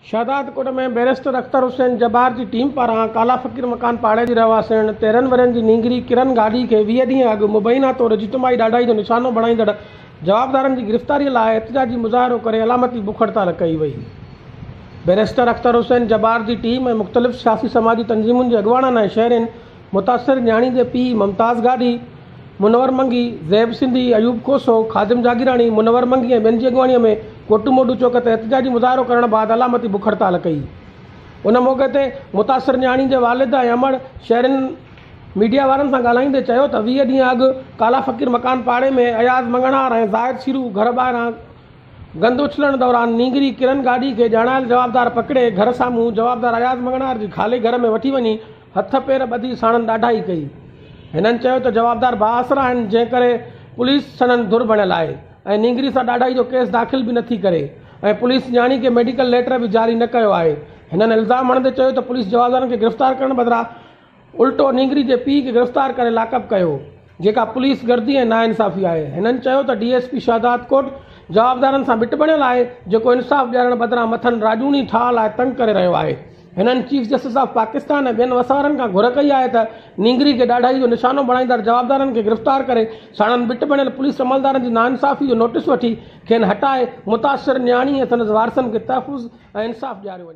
Shahdadkot ۾ barrister Akhtar Hussain Jabbar جي team پاران ڪالا فقير مڪان پاڙي جي رهواسڻ تيرهن ورهين جي نينگري ڪرن گاڏهي کي ويهه ڏينهن اڳ مبينا طور اجتماعي ڏاڍائي جو نشانو بڻائيندڙ جوابدارن جي گرفتاري لاء احتجاجي مظاهرو ڪري علامتي بک هڙتال ڪئي وئي. بئريسٽر اختر حسين جبار جي ٽيم ۽ مختلف سياسي سماجي تنظيمن جي اڳواڻن ۽ شهرين متاثر نياڻي جي پيء ممتاز گاڏهي، منور منگي، زيب سنڌي، ايوب کوسو، خادم جاگيراڻي، منور منگي ۽ ٻين جي اڳواڻيء ۾ ڪوٽو موٽو چوڪ تي احتجاجي مظاهرو ڪرڻ بعد علامتي بک هڙتال ڪئي. ان موقعي تي متاثر نياڻي جي والد ۽ امڙ شهرين ميڊيا وارن سان ڳالهائيندي چيو ته ويهه ڏينهن اڳ ڪالا فقير مڪان پاڙي ۾ اياز مڱڻهار ۽ زاهد شيرو گهر ٻاهران گند اڇلڻ دوران نينگري ڪرن گاڏهي کي ڄاڻايل جوابدار پڪڙي گهر سامهون جوابدار اياز مڱڻهار جي خالي گهر ۾ وٺي وڃي هٿ پير ٻڌي ساڻن ڏاڍائي ڪئي. هنن چيو ته جوابدار بااثر آهن جنهن ڪري پوليس سندن ڌر بڻيل آهي ۽ نينگري سان ڏاڍائي جو ڪيس داخل به نٿي ڪري ۽ پوليس نياڻي کي ميڊيڪل ليٽر به جاري نه ڪيو آهي. هنن الزام هڻندي چيو ته پوليس جوابدارن کي گرفتار ڪرڻ بدران الٽو نينگري جي پيء کي گرفتار ڪري لاڪ اپ ڪيو. جيڪا پوليس گردي ۽ ناانصافي آهي. هنن چيو ته ڊي ايس پي شهدادڪوٽ جوابدارن سان بٽ بڻيل آهي جيڪو انصاف ڏيارڻ بدران مٿن راڄوڻي ٺاهه لاء تنگ ڪري رهيو آهي. هنن چيف جسٽس آف پاڪستان ۽ ٻين وسهارن کان گهر ڪئي آهي ته نينگري کي ڏاڍائي جو نشانو بڻائيندڙ جوابدارن کي گرفتار ڪري ساڻن بٽ بڻيل پوليس عملدارن جي ناانصافي جو نوٽيس وٺي کين هٽائي متاثر نياڻي ۽ سندس وارثن کي تحفظ ۽ انصاف ڏياريو وڃي.